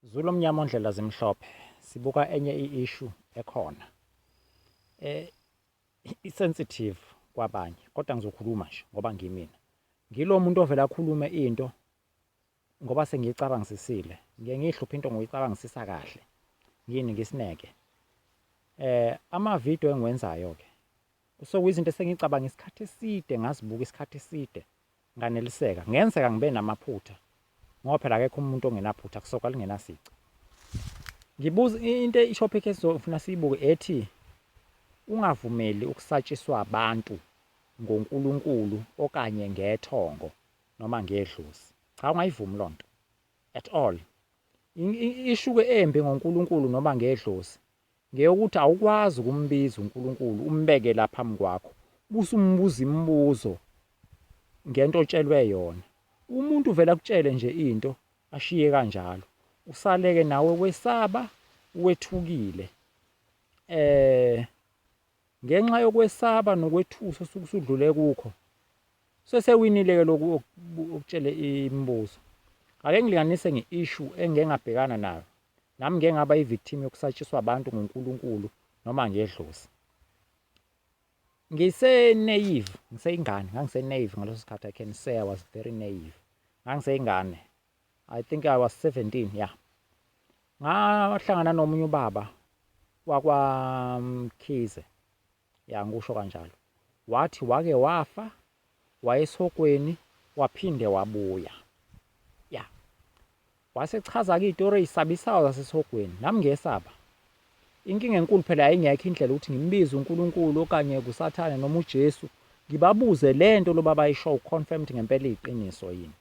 Zulu omnyama ondlela zimhlophe sibuka enye i-issue ekhona e isensitive kwabanye kodwa ngizokhuluma nje ngoba ngimina ngilo muntu ovela akhulume into ngoba sengiyicabangisisile ngiye ngiyihluphe into ngoyicabangisisa kahle ngini ngisineke eh ama video engiwenzayo ke kusokuyizinto esengicabange isikhathi eside ngazibuka isikhathi eside Nganeliseka. Kungenzeka ngibe namaphutha ngoba phela akekho umuntu ongenaphutha, kusoka lingenasici. Ngibuza into i-topic esizofuna siyibuke ethi ungavumeli ukusatshiswa abantu ngoNkulunkulu okanye ngethongo noma ngedlozi. Cha ungayivumi loo nto at all. Ishuke embi ngoNkulunkulu noma ngedlozi Ngeyokuthi awukwazi ukumbiza uNkulunkulu umbeke la phambi kwakho buse umbuza imibuzo ngento otshelwe yona. Umuntu uvele akutshele nje into ashiye kanjalo. Usaleke nawe wesaba wethukile. Eh ngenxa yokwesaba nokwethusa osuke usudlule kukho sesewinile ke lokhu okutshele imibuzo. Ake ngilinganise nge-issue engengabhekana nayo Nami ngike ngaba i-victim yokusatshiswa abantu nguNkulunkulu noma ngedlozi. Ngise-naive, ngiseyingane, ngangise-naive ngaleso sikhathi, I can say I was very naive. Ngangiseyingane, I think I was 17, yeah. Ngahlangana nomunye ubaba wakwaMkhize, Ya ngikusho kanjalo. Wathi wake wafa wayesokweni waphinde wabuya. Ya. Wasechaza ke izitori ezisabisayo zasesogweni. Nami ngiyesaba. Inkinga enkulu phela yayingekho indlela ukuthi ngimbize uNkulunkulu okanye kusathane noma uJesu ngibabuze lento lobaba ayisho uconfirmed ngempela iqiniso yini.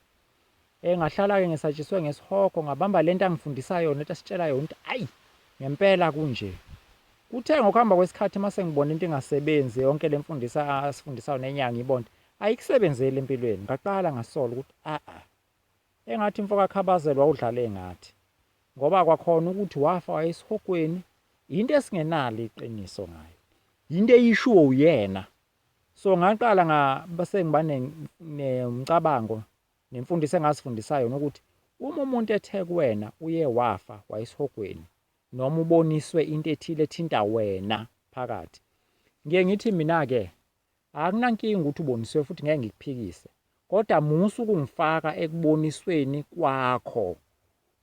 Eh ngahlala-ke ngesatshiswe ngesihogo ngabamba lento angifundisa yona ethi asitshela yona ukuthi ayi ngempela kunje. Kuthe ngokuhamba kwesikhathi uma sengibona into ingasebenzi yonke le mfundisa asifundisayo nenyanga ibonde ayikusebenzeli empilweni ngaqala ngasola ukuthi a-a engathi mfoka khabazelwa udlale ngathi ngoba kwakhona ukuthi wafa wayesihogweni yinto esingenalo iqiniso ngayo yinto eyishiwo uyena So ngaqala nga sengiba nomcabango nemfundiso engazifundisa yona ukuthi uma umuntu ethe kuwena uye wafa wayesihogweni noma uboniswe into ethile ethinta wena phakathi. Ngiye ngithi mina-ke akunankinga ukuthi uboniswe futhi ngeke ngikuphikise, kodwa musa ukungifaka ekubonisweni kwakho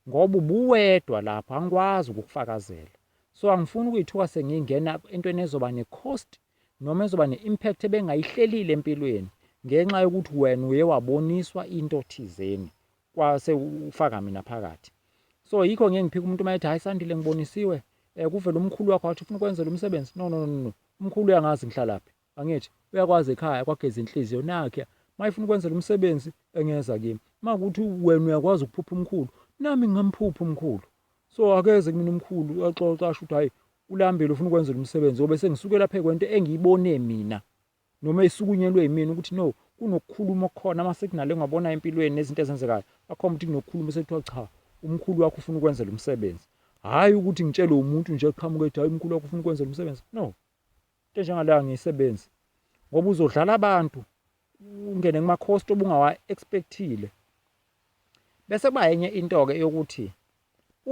ngoba ubuwedwa lapho angikwazi ukukufakazela. So angifuni ukuyithuka sengingena entweni ezoba ne-cost noma ezoba ne-impact ebengayihlelile empilweni ngenxa yokuthi wena uye waboniswa into thizeni kwase ufaka mina phakathi so yikho ngeke ngiphika umuntu uma ethi hayi sandile ngibonisiwe um kuvele umkhulu wakho wathi ufuna ukwenzela umsebenzi no no no no umkhulu uyangazi ngihlalaphi angithi uyakwazi ekhaya kwageza inhliziyo nakhe uma ifuna ukwenzela umsebenzi engeza kimi uma ukuthi wena uyakwazi ukuphupha umkhulu nami ngingamphupha umkhulu so akeze kumina umkhulu axoxa asho ukuthi hayi Ulambile ufuna ukwenza lomsebenzi ngoba sengisukela phe kwento engiyibone mina noma isukunyelwe yimina ukuthi no kunokukhuluma okukhona ama signal engwabona empilweni nezinto ezenzekayo akhomba ukuthi kunokukhuluma sekuthiwa cha umkhulu wakho ufuna ukwenza lomsebenzi hayi ukuthi ngitshelwe umuntu nje qhamuka ethi hayi umkhulu wakho ufuna ukwenza lomsebenzi no into njengaleyo angiyisebenzi ngoba uzodlala abantu ungene kumakhosti obungawa-expectile bese kuba enye into-ke eyokuthi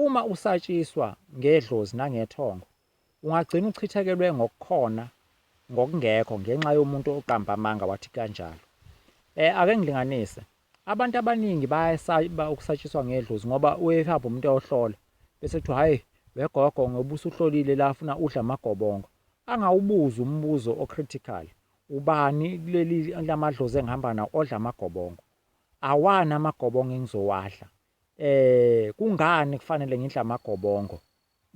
uma usatshiswa ngedlozi nangethongo ungagcina uchithekelwe ngokukhona ngokungekho ngenxa yomuntu oqamba amanga wathi kanjalo um ake ngilinganise Abantu abaningi bayasaba ukusatshiswa ngedlozi ngoba uyehamba umuntu eyohlola bese kuthiwa hhayi wegogo ngoba usuhlolile la afuna udla amagobongo angawubuza umbuzo ocritical ubani kuleli lamadlozi engihamba nawo odla amagobongo awani amagobongo engizowadla eh kungani kufanele ngidla amagobongo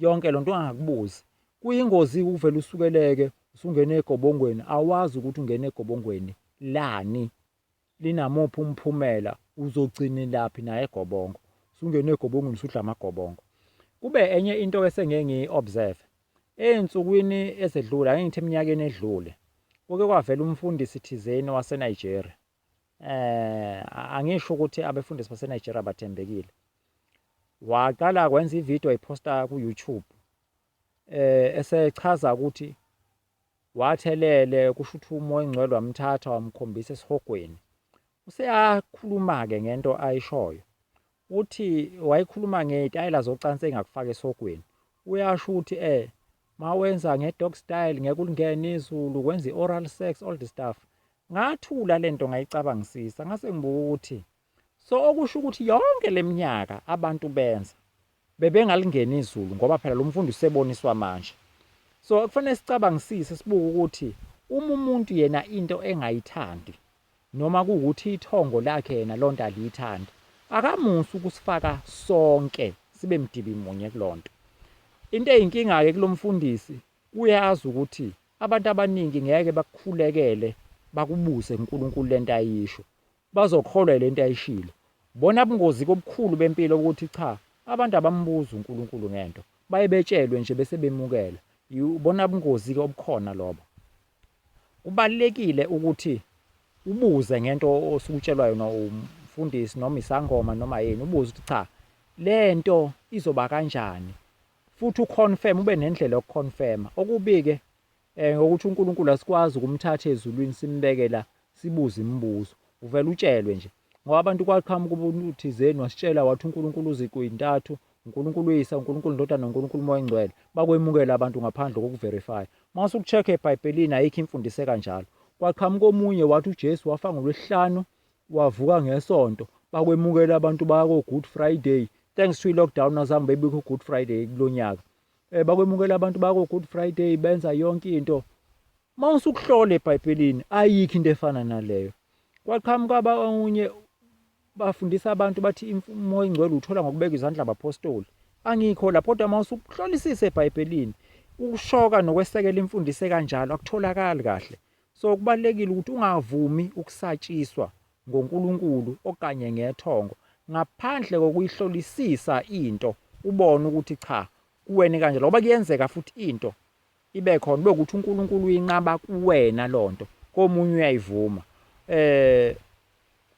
yonke lonto ungakubuzi kuyingozi ukuvela usukeleke usungena egobongweni awazi ukuthi ungena egobongweni lani linamuphi umphumela uzogcinelaphi naye gobongo sungene egobongweni usudla amagobongo kube enye into ke sengeke ngiyi-observe ey'nsukwini ezedlule ake ngithi eminyakeni edlule kuke kwavela umfundisi thizeni waseNigeria eh angisho ukuthi abefundisi baseNigeria bathembekile waqala kwenza ivideo ayiposta ku-YouTube eh esechaza ukuthi Wathi elele kusho ukuthi umoya ongcwele wamthatha wamkhombisa esihogweni. Useyakhuluma-ke ngento ayishoyo. Uthi wayekhuluma ngey'tayela zocansi engakufaka esihogweni. Uyasho ukuthi eh mawenza nge-dog style ngeke ulingene izulu, kwenza i-oral sex, all the stuff. Ngathula lento ngayicabangisisa ngase ngibuka ukuthi So okusho ukuthi yonke leminyaka abantu benza bebengalingeni izulu ngoba phela lo mfundi useboniswa manje. So kufanele sicabangisise sibuke ukuthi uma umuntu yena into engayithandi noma kuwukuthi ithongo lakhe yena lonto aliyithandi akamusi ukusifaka sonke sibe mdibi munye kulonto. Into eyinkinga ke kulomfundisi uyazi ukuthi abantu abaningi ngeke bakukhulekele bakubuze uNkulunkulu lento ayisho Bazokholwa yilento ayishilo. Bona ubungozi kobukhulu bempilo ukuthi cha abantu abambuzi uNkulunkulu ngento, baye betshelwe nje bese bemukela. Ibona ubungozi ke obukhona lobo. Kubalekile ukuthi ubuze ngento osukutshelwa yona umfundisi noma isangoma noma yini, ubuze ukuthi cha lento izoba kanjani. Futhi uconfirm ube nendlela yokuconfirma. Okubike Eh ngokuthi uNkulunkulu asikwazi ukumthatha ezulwini simbeke la sibuze imibuzo. Uvela utshelwe nje. Ngoba abantu kwaqhamuka umuntu thizeni wasitshela wathi uNkulunkulu uziqu intathu, uNkulunkulu uyisa, uNkulunkulu indodana, uNkulunkulu umoya engcwele. Bakwemukela abantu ngaphandle kokuverify. Mase ukucheck eBhayibhelini ayikho imfundiso ekanjalo. Kwaqhamuka omunye wathi uJesu wafa ngolwesihlanu wavuka ngesonto. Bakwemukela abantu baya ko Good Friday. Thanks to i lockdown azange bebikho Good Friday kulonyaka. Eh bakwemukela abantu bako Good Friday benza yonke into. Mawusukuhlola eBhayibhelini ayikho into efana naleyo. Kwaqhamuka abanye bafundisa abantu bathi imfumo ingcwele uthola ngokubeka izandla abapostoli. Angikho lapho kodwa mawusukuhlolisisa eBhayibhelini ukushoka nokwesekela imfundise kanjalo akutholakali kahle. So kubalekile ukuthi ungavumi ukusatshiswa ngoNkulunkulu okanye ngethongo ngaphandle kokuyihlolisisa into ubone ukuthi cha kuwena kanje ngoba kuyenzeka futhi into ibe khona ube ukuthi uNkulunkulu uyinqaba kuwena lonto komunye uyayivuma eh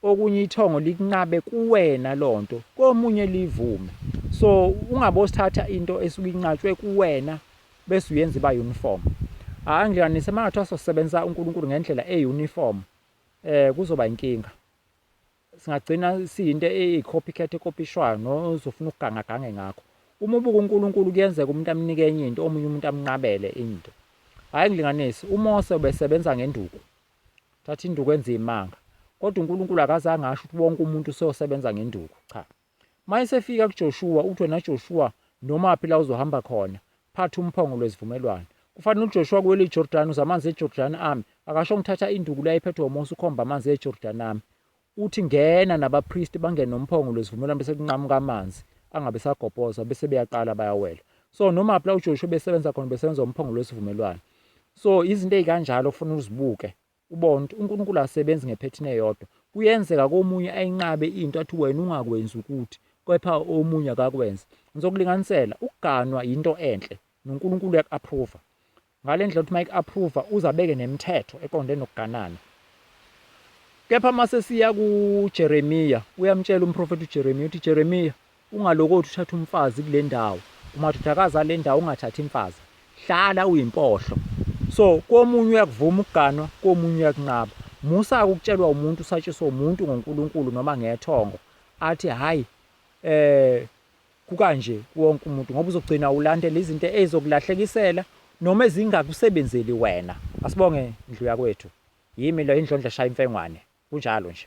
okunye ithongo likunqabe kuwena lonto komunye livume so ungabosithatha into esuke inqatshwe kuwena bese uyenza iba uniform angihlanganise mangathiwa sosebenza uNkulunkulu ngendlela euniform eh kuzoba inkinga singagcina siyinto eyi-copycat ekopishwayo nozofuna ukuganga gange ngakho uma ubuka uNkulunkulu kuyenzeka umuntu amnike enye into omunye umuntu amnqabele into hayi ngilinganisi uMose ubesebenza ngenduku thatha induku enze imanga kodwa uNkulunkulu akazange asho ukuthi wonke umuntu useyosebenza ngenduku cha Mayesefika kuJoshuwa, uthi, Wena Joshuwa, nomaphi la uzohamba khona, phatha umphongo lwesivumelwano. Kufanele uJoshuwa kuwele iJordani, uze amanzi eJordani ame. Akasho ngithatha induku le ayiphethwe uMose ukhomba amanzi eJordani ame. Uthi ngena nabapristi bangene nomphongo lwesivumelwano bese kunqamuka amanzi angabe sagobhoza bese beyaqala bayawela. So nomaphi la uJoshuwa besebenza khona besebenza umphongo lwesivumelwano. So izinto ezikanjalo kufanele uzibuke. UBond, uNkulunkulu akasebenzi ngephethini eyodwa. Kuyenzeka komunye ayinqabe into athi wena ungakwenzi ukuthi, kepha omunye akakwenze. Ngizokulinganisela, ukuganwa yinto enhle, noNkulunkulu uyaku-approva. Ngale ndlela ukuthi uma eku-approva, uze abeke nemithetho eqonde nokuganana. Kepha uma sesiya kuJeremiya, uyamtshela umprofethi uJeremiya, uthi, Jeremiya, Ungalokothi uthathe umfazi kulendawo umadodakazi alendawo ungathathi imfazi hlala uyimpohlo so komunye uyakuvuma ukuganwa komunye uyakunqaba musa ukutshelwa umuntu usatshiswa umuntu ngoNkulunkulu noma ngethongo athi hayi eh kukanje wonke umuntu ngoba uzogcina ulandela izinto ezokulahlekisela noma ezingakusebenzeli wena asibonge indlu yakwethu yimi lo indlondla shaya imfengwane kunjalo nje